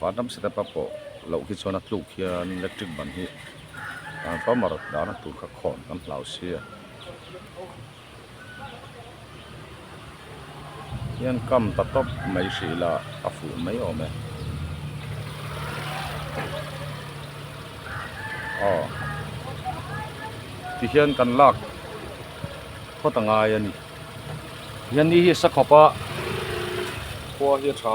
Var dam setup a pawh loh khi chuan a tluk hian electric ban hi transformer dahna tur kha khawn kan hlau si a. Hian kam ta tawp mai hrih la a fuh mai awm e. Aw tihian kan lak phawt a ngai a ni. Yanni hi sakhawpa khua hi a tha.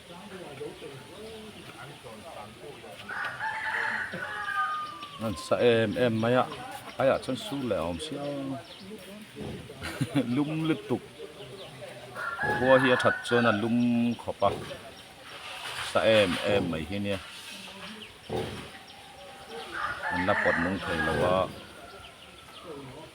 An sa em em mai a, ai ah chuan sur leh a awm sia. Lum lutuk. Khua hi a that chuan a lum khawp a, sa em em mai hi nia. An la pawt nung thei lo a.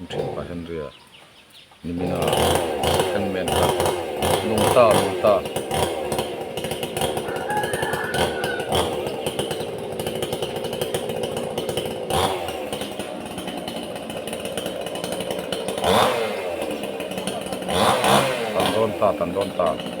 An then pah hian ria nimin a eng men kha lung ta lung ta. Tan dawn ta tan dawn ta.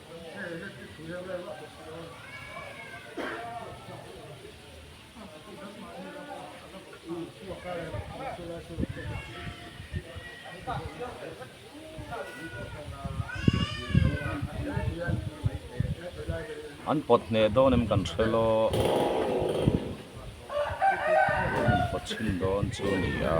An pawt hneh dawn em kan hre law an pawt chhin dawn chu a ni a.